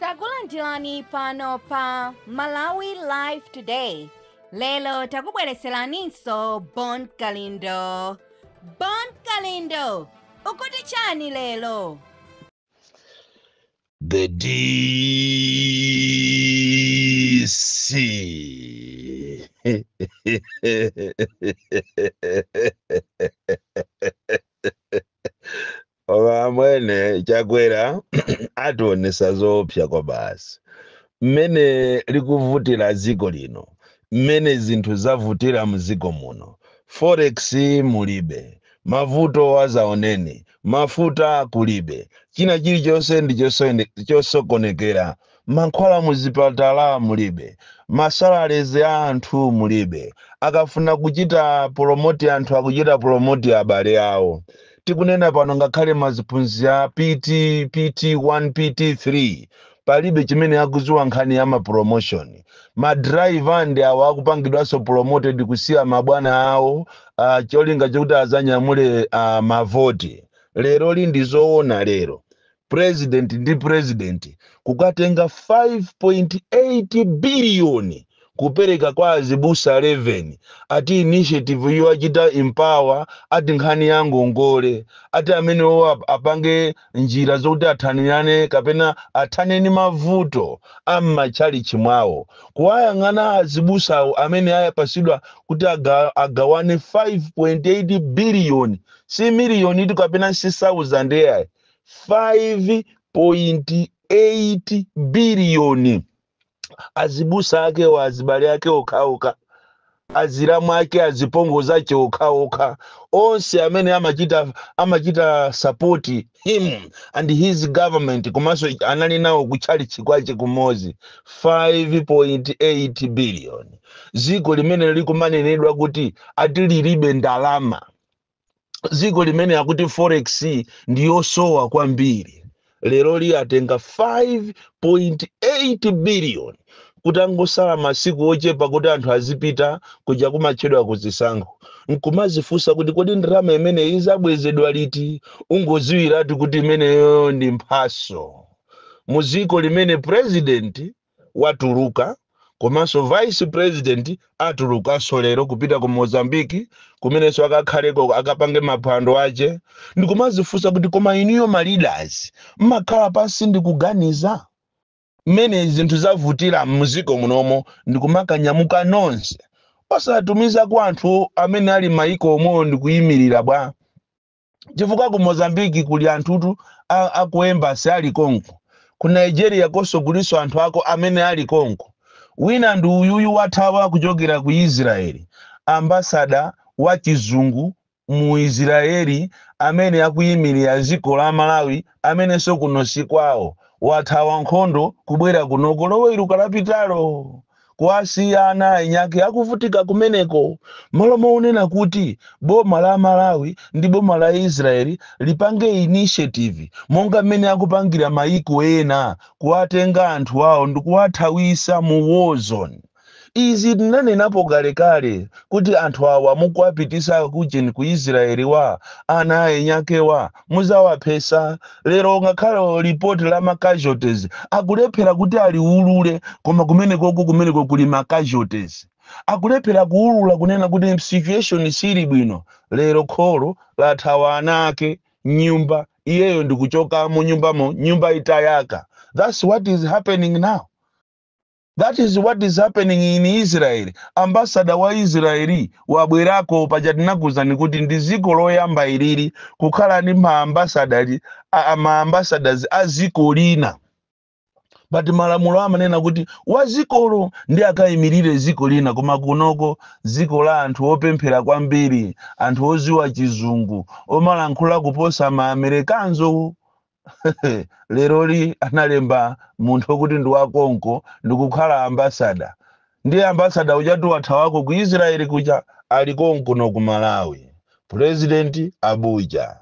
takulandirani pano pa malawi live today lero takubwereseraninso bon kalindo bon kalindo ukuti chani lero The DC. Koma mwene Chakwera ationesa zoopsa kwa basi, mmene likuvutira dziko lino, mmene zinthu zavutira mdziko muno, forex mulibe, mavuto adzaoneni, mafuta kulibe, china chilichonse ndi chosokonekera Mankhwala muzipatala mulibe. Ma salaries a anthu mulibe. Akafuna kuchita promote anthu akuchita promote abale awo. Tikunena pano ngakhale ma ziphunzitsi a PT, PT 1, PT 3 palibe chimene akuziwa nkhani ya ma promotion. Ma driver ndi awa akupangidwanso promoted kusiya ma bwana awo cholinga chokuti azanyamule mavoti. Leroli ndi zoona lero. president ndi president kukatenga 5.8 biliyoni kupereka kwa azibusa 11 ati initiative iyo achita empower ati nkhani ya ngongole ati amenewo ap- apange njira zokuti athanirane kapena athane ndi mavuto a m'matchalichi mwawo kuwayang'ana azibusa amene ayapasidwa kuti aga, agawane 5.8 biliyoni si miliyoni itu kapena si 1000 eyayi 5.8 biliyoni azibusa akewa azibale ake okhaokha azilamu ake azipongozi ake okhaokha onse amene amachita amachita sapoti him and his government komanso anali nawo kutchalitchi kwache kumodzi 5.8 biliyoni dziko limene likumanenedwa kuti ati lilibe ndalama dziko limene akuti forex ndi yosowa kwambiri leroli atenga 5.8 billion kutangosala masiku ochepa kuti anthu azipita kuja kumatchedwa kuzisankho nkumazifunsa kuti kodi ndalama imeneyi izabwezedwa liti ungoziwiratu kuti imeneyo ndi mphaso mu dziko limene president watuluka komanso vice president atulukanso lero kupita ku mozambiki kumenenso akakhaleko akapange maphwando ache ndikumazifunsa kuti koma inuyo ma leaders mmakhala pansi ndikuganiza mmene zinthu zavutira mziko munomo ndikumakanyamuka nonse osatumiza kwa anthu amene ali mmaiko omwewo ndikuyimirira bwa chifukwa ku mozambiki kuli anthutu a ku embasi ali konko ku nigeria konso kuliso anthu ako amene ali konko wina ndi uyuyu wathawa kuchokera ku israeli ambasada wa chizungu mu israeli amene akuyimirira dziko la malawi amenenso kuno si kwawo wathawa nkhondo kubwera kunoko loweruka lapitalo kuwasiya ana ainyake akuvutika kumeneko m'malo monena kuti boma la malawi ndi boma la israeli lipange initiative monga mmene akupangira mayiko ena kuwatenga anthu awo ndikuwathawisa mu war zone izi tinanenapo kalekale kuti anthu awa mukuwapitisa kujeni ku israeli wa ana ainyakewa muzawaphesa lero ngakhale report la ma casualties akulephera kuti aliulule koma kumenekoko kumeneko kuli ma casualties akulephera kuulula kunena kuti situation sili bwino lero kholo lathawa ana ake mnyumba iyeyo ndikuchokamo nyumbamo nyumba itayaka that's what is happening now That is what is happening in Israel. Ambassador wa Israel wabwerako paja tinakuuzani kuti ndi dziko loyamba ilili kukhala ndi maambasadali a- a- maambasadazi a dziko lina but malamulo amanena kuti wa dzikolo ndiye akayimirire dziko lina koma kunoko dziko la anthu opemphera kwambiri anthu oziwa chizungu omalankhula kuposa maamerikanzo leroli analemba munthu okuti ndi wakonko ndikukhala ambasada ndiye ambasada ujatu wathawako ku israeli kuja ali konkuno ku malawi president abuja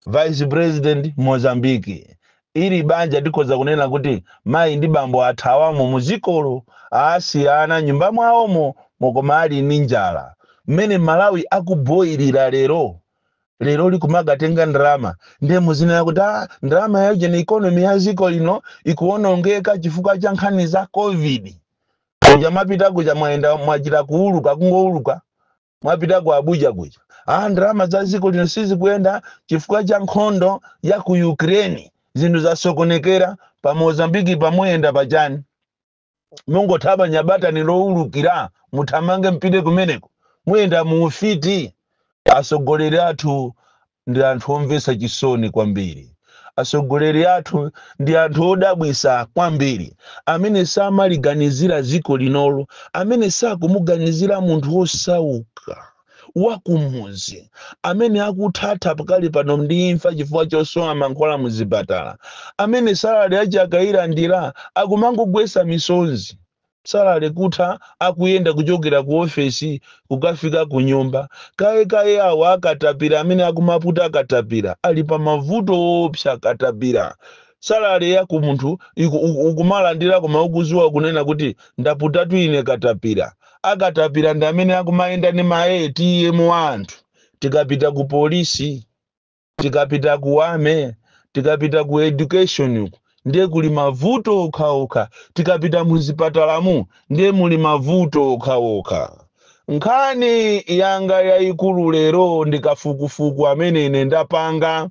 vice president mozambiki ili banja tikhoza kunena kuti mayi ndi bambo athawamo muzikolo asiya ana mnyumba mwawomo mokoma ali ndi njala mmene malawi akuboyilira lero lero lukumakatenga ndalama ndiye muzinena kuti ah, ndalama ya ujeni economy ya dziko lino ikuwonongeka chifukwa cha nkhani za covid kuja mwapita kuja mwayenda mwachita kuuluka kungouluka mwapita ku abuja kuja ah, ndalama za dziko lino sizikuyenda chifukwa cha nkhondo ya ku ukraine zinthu zasokonekera pa mozambiki pa muyenda pa chani mungotaba nyabatani lowulukira muthamange mupite kumeneko muyenda mu ufiti atsogoleri athu ndi anthu omvetsa chisoni kwambiri atsogoleri athu ndi anthu odabwitsa kwambiri amene samaliganizira dziko linolo amene sakumuganizira munthu wosauka wa kumudzi amene akuthatha pakali pano ndi imfa chifukwa chosowa mankhwala mu zipatala amene salale yace akayilandira akumangogwetsa misozi salale kutha akuyenda kuchokera ku ofesi kukafika ku nyumba kaye kaye awa akatapira amene akumaputa katapira ali pa mavuto oopsa a katapira salale yako munthu iku- uku- ukumalandira koma ukudziwa kunena kuti ndaputatu ine katapira akatapira ndi amene akumayenda ndi ma ATM wa anthu tikapita ku police tikapita ku army tikapita ku education uku ndiye kuli mavuto okhaokha tikapita muzipatalamu ndiye muli mavuto okhaokha nkhani yanga yayikulu lero ndi kafukufuku amene ine ndapanga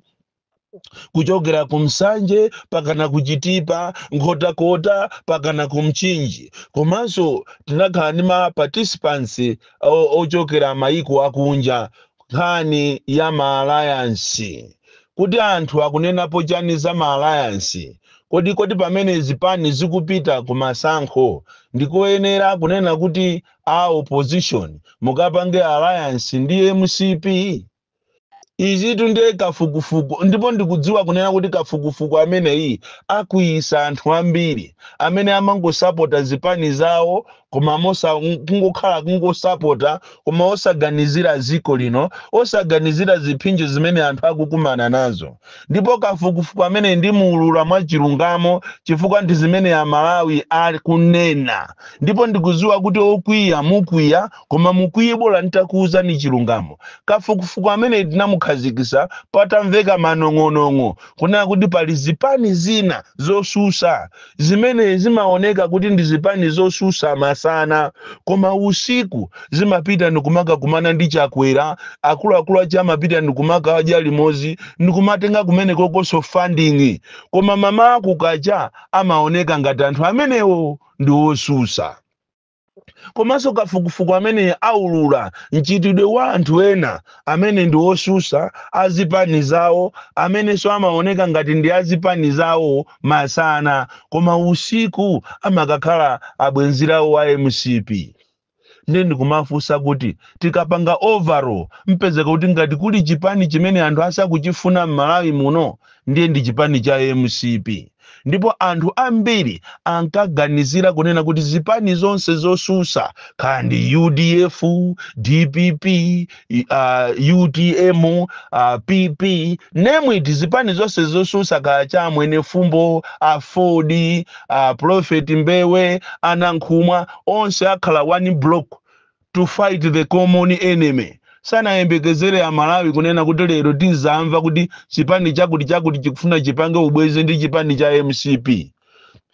kuchokera ku msanje pakana ku chitipa nkhotakota pakana ku mchinji komanso tinakhala ndi ma participants o- ochokera mayiko akunja nkhani ya ma alliance kuti anthu akunenapo chani za ma alliance kodi kodi pamene zipani zikupita ku masankho ndikoyenera kunena kuti a opposition mukapange alliance ndi mcp izitu ndiye kafukufuku ndipo ndikudziwa kunena kuti kafukufuku ameneyi akwiyisa anthu ambiri amene amangosapota zipani zawo koma mosa kungokhala kungosapota koma osaganizira ziko lino osaganizira ziphinjo zimene anthu akukumana nazo ndipo kafukufuku ameneyi ndimuulula mwa chilungamo chifukwa ndi zimene amalawi akunena ndipo ndikudziwa kuti okwiya mukwiya Koma mukwiye bola nitakuuzani chilungamo. Kafukufuku ameneyi tinamukhazikisa patamveka manong'onong'o kunena kuti pali zipani zina zosusa zimene zimaoneka kuti ndi zipani zosusa masana koma usiku zimapita ndikumakakumana ndi Chakwera, akuluakulu ache amapita ndikumakadya limozi ndikumatenga kumenekokoso funding koma mamawa kukacha amaoneka ngati anthu amenewo ndi osusa. komanso kafukufuku amene aulula mchitidwe wa anthu ena amene ndi osusa azipani zawo amenenso amaoneka ngati ndi azipani zawo masana koma usiku amakakhala abwenzirawo wa mcp ndiye ndikumafunsa kuti tikapanga overall mpezeka kuti ngati kuli chipani chimene anthu asakuchifuna m'malawi muno ndiye ndi chipani cha mcp ndipo anthu ambiri ankaganizira kunena kuti zipani zonse zosusa kaya ndi udf dpp uh, utm uh, pp name it zipani zonse zosusa kaya cha Mwenefumbo aford uh, prophet mbewe a Nankhumwa onse akhala one block to fight the common enemy. Sanayembekezere a Malawi kunena kuti lero tizamva kuti chipani chakuti chakuti chikufuna chipange ubwezi ndi chipani cha mcp.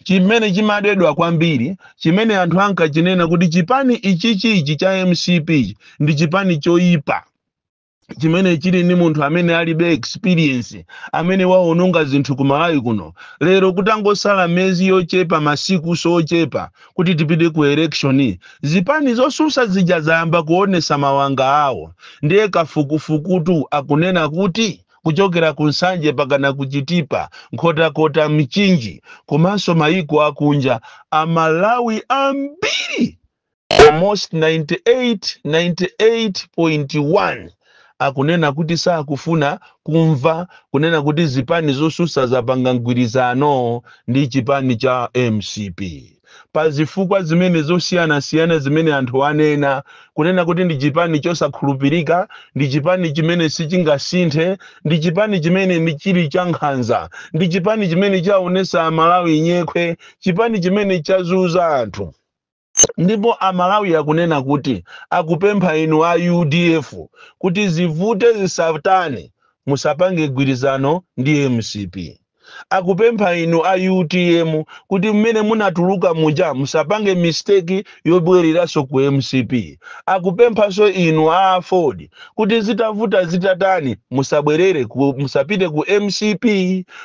Chimene chimadedwa kwambiri, chimene anthu ankachinena kuti chipani ichichi ichi cha mcp ndi chipani choyipa. chimene chili ndi munthu amene alibe experience amene waononga zinthu ku malawi kuno lero kutangosala miyezi yochepa masiku sochepa kuti tipite ku election zipani zosusa zija zayamba kuonesa mawanga awo ndiye kafukufukutu akunena kuti kuchokera ku nsanje pakana kuchitipa nkhotakota mchinji komanso mayiko akunja amalawi ambiri almost 98, 98.1 akunena kuti sakufuna kumva kunena kuti zipani zosusa zapanga mgwirizano ndi chipani cha mcp pa zifukwa zimene zosiyanasiyana zimene anthu anena kunena kuti ndi chipani chosakhulupirika ndi chipani chimene sichingasinthe ndi chipani chimene ndi chili cha nkhanza ndi chipani chimene chaonesa amalawi nyekhwe chipani chimene chazuza anthu Ndipo a Malawi akunena kuti akupempha inu a udf kuti zivute zisatani musapange mgwirizano ndi mcp. Akupempha inu a utm kuti mmene munatuluka muja musapange mistake yobwereranso ku mcp. Akupemphanso inu a aford kuti zitavuta zitatani musabwerere musapite ku mcp.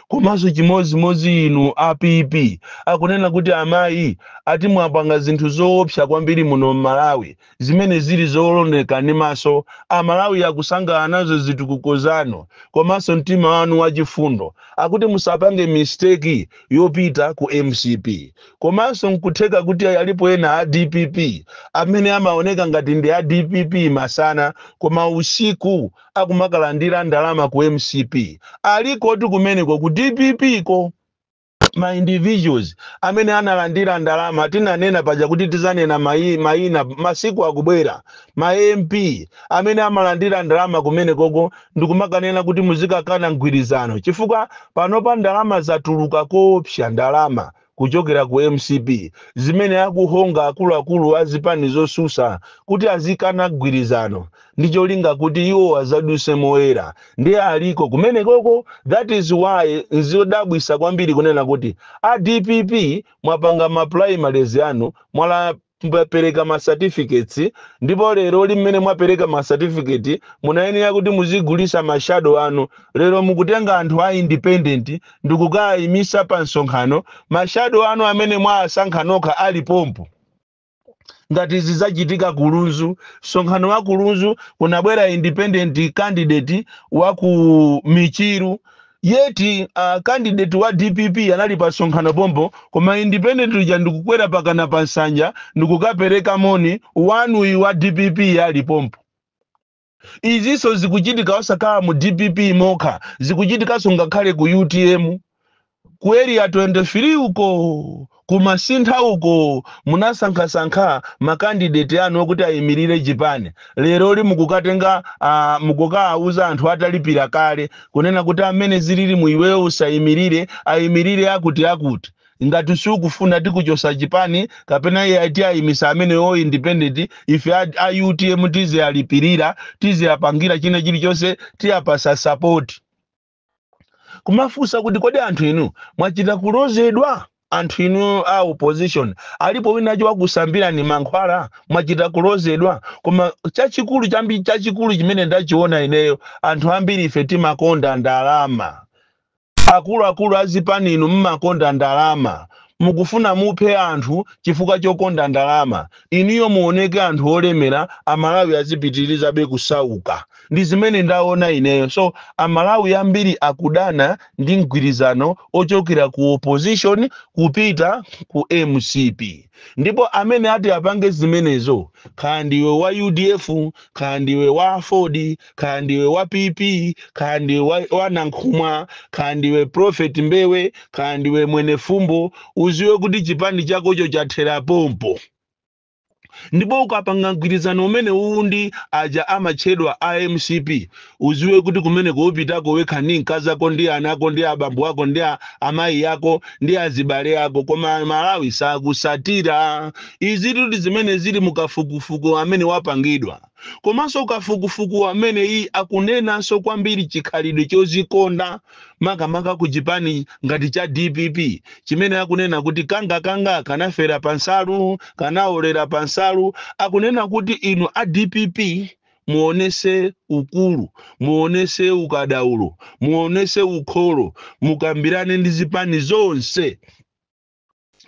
Komanso chimodzimodzi inu a PP akunena kuti amayi ati mwapanga zinthu zoopsa kwambiri muno mmalawi zimene zili zooneka ndi maso amalawi akusangalala nazo zitukuko zanu komanso mtima wanu wachifundo akuti musapange mistake yopita ku mcp komanso nkutheka kuti alipo ena a dpp amene amaoneka ngati ndi a dpp masana koma usiku akumakalandira ndalama ku mcp alikotu kumeneko ku dpp ko ma individuals amene analandira ndalama tinanena paja kuti tizanena mayi, mayina masiku akubwera ma mp amene amalandira ndalama kumenekoko ndikumakanena kuti muzikakana mgwirizano chifukwa panopa ndalama zatuluka koopsa ndalama kuchokera ku mcp zimene akuhonga akuluakulu a zipani zosusa kuti azikana mgwirizano ndi cholinga kuti iwo azaduse moyera ndiye aliko kumenekoko that is why nzodabwisa kwambiri kunena kuti a dpp mwapanga ma primaries anu mwala mwapereka ma certificates ndipo leroli mmene mwapereka ma certificate munayenera kuti muzigulisa ma shadow anu lero mukutenga anthu a independent ndikukayimisa pa msonkhano ma shadow anu amene mwasankha nokha ali pompo ngati zi zachitika ku lunzu msonkhano wa ku lunzu kunabwera independent candidate wa ku michiru yet uh, candidate wa dpp anali pa msonkhano pompo koma independent uja ndikukwera pakana pa nsanja ndikukapereka moni wanuyi wa dpp ali pompo Izinso zikuchitika osakhala mu dpp mokha zikuchitikanso ngakhale ku utm ku area 23 uko ku masintha uko munasankhasankha ma candidate anu okuti ayimirire chipani leroli mukukatenga uh, mukukaawuza anthu atalipira kale kunena kuti amene zilili mu iweyo usayimirire ayimirire akuti akuti Ngati sukufuna tikuchosa chipani kapena iyayi tiayimisa ameneyo wa independent ife a utm tizialipilira tiziapangira china chilichonse tiapasa support. Kumafusa kuti kodi anthu inu mwachita kulozedwa? Anthu inu a opposition alipo winawake wakusambirani mankhwala? Mwachita kulozedwa? Koma chachikulu chachikulu chimene ndachiona ineyo anthu ambiri ife timakonda ndalama. Akuluakulu a zipani inu mmakonda ndalama. Mukufuna muphe anthu chifukwa chokonda ndalama. Inuyo muoneke anthu olemera a Malawi azipitirizabe kusauka. Ndi zimene ndaona ineyo. So a Malawi ambiri akudana ndi mgwirizano ochokera ku opposition kupita ku mcp. Ndipo amene ati apange zimenezo, kaya ndiwe wa udf, kaya ndiwe wa aford, kaya ndiwe wa pp kaya ndiwe wa, wa nankhumwa kaya ndiwe prophet mbewe kaya ndiwe mwenefumbo uziwe kuti chipani chakocho chathera pompo ndipo ukapanga mgwirizano umene uwu ndi aja amatchedwa a mcp uziwe kuti kumene ukupitako wekha ndi mkazi ako ndi ana ako ndi abambo ako ndi a- amayi ako ndi azibale ako koma amalawi sakusatira izitu ndi zimene zili mukafukufuku amene wapangidwa Komanso kafukufuku wameneyi akunenanso kwambiri chikhalidwe chozikonda makamaka ku chipani ngati cha dpp chimene akunena kuti kangakanga kanafera pa nsalu kanaolera pa nsalu akunena kuti inu a dpp muonese ukulu muonese ukadaulo muonese ukholo mukambirane ndi zipani zonse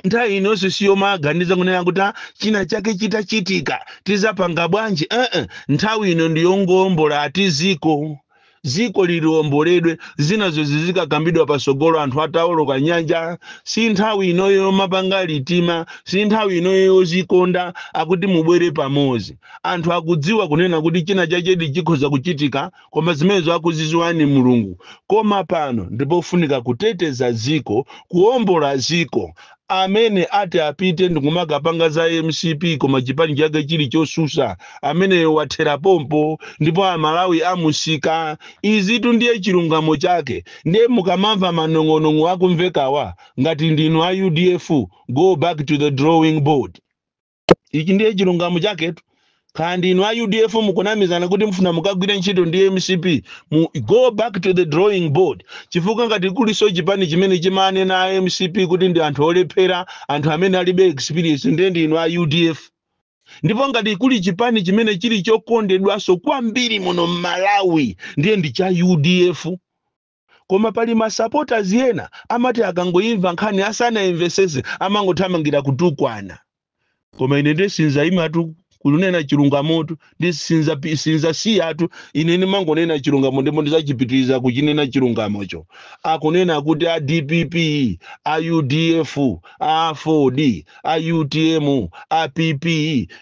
nthawi inonso siyomaganiza kunena kuti "Ah, china chake chitachitika tizapanga bwanji ee nthawi ino ndiyongoombola ati ziko ziko ili liomboledwe zinazo zizikakambidwa pasogolo anthu ataoloka nyanja si nthawi inoyo yomapanga litima si nthawi inoyo yozikonda akuti mubwere pamodzi anthu akudziwa kunena kuti china chakedi chikhoza kuchitika koma zimenezo akuziziwa ndi mulungu koma pano ndipofunika kuteteza ziko kuombola ziko amene ati apite ndikumakapanga za mcp koma chipani chake chili chosusa ameneyo wathera pompo ndipo amalawi amusika izitu ndiye chilungamo chake ndiye mukamamva manong'onong'o akumvekawa ngati ndinu a udf go back to the drawing board ichi ndiye chilungamo chaketu kaya ndinu a udf mukunamizana kuti mufuna mukagwire ntchito ndi mcp mu go back to the drawing board chifukwa ngati kuliso chipani chimene chimanena a mcp kuti ndi anthu olephera anthu amene alibe experience ndiye ndinu a udf ndipo ngati kuli chipani chimene chili chokondedwanso kwambiri muno mmalawi ndiye ndi cha udf Koma pali ma supporters ena amati akangoimva nkhani asanaimvesese amangothamangira kutukwana. Koma ine nde sindizaimatu kunena chilungamotu ndi sinzasiyatu ine ndimangonena chilungamo ndipo ndizachipitiriza kuchinena chilungamocho. Akunena kuti a dpp, a udf, a aford a utm a pp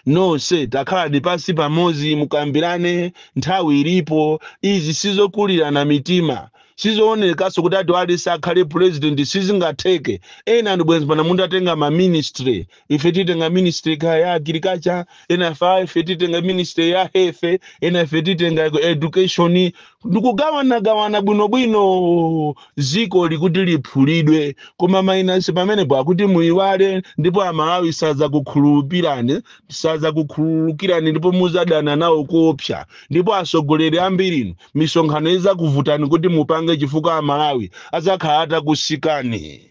nonse takhalani pansi pamodzi mukambirane nthawi ilipo izi sizokulirana mitima sizoonekaso kuti ati aliyense akhale president sizingatheke ena ndi bwenzi pano mutatenga ma ministry ife titenga ministry kaya agriculture ena ife titenga ministry ya health ena ife titenga education ndikugawanagawana bwinobwino dzikoli kuti liphulidwe koma minus pamenepo akuti muyiwale ndipo amalawi sadzakukhululupirani sadzakukhululukirani ndipo muzadana nawo kuopsa ndipo asogoleri ambirinu misonkhano izakuvutani kuti mupange chifukwa amalawi azakhala atakusikani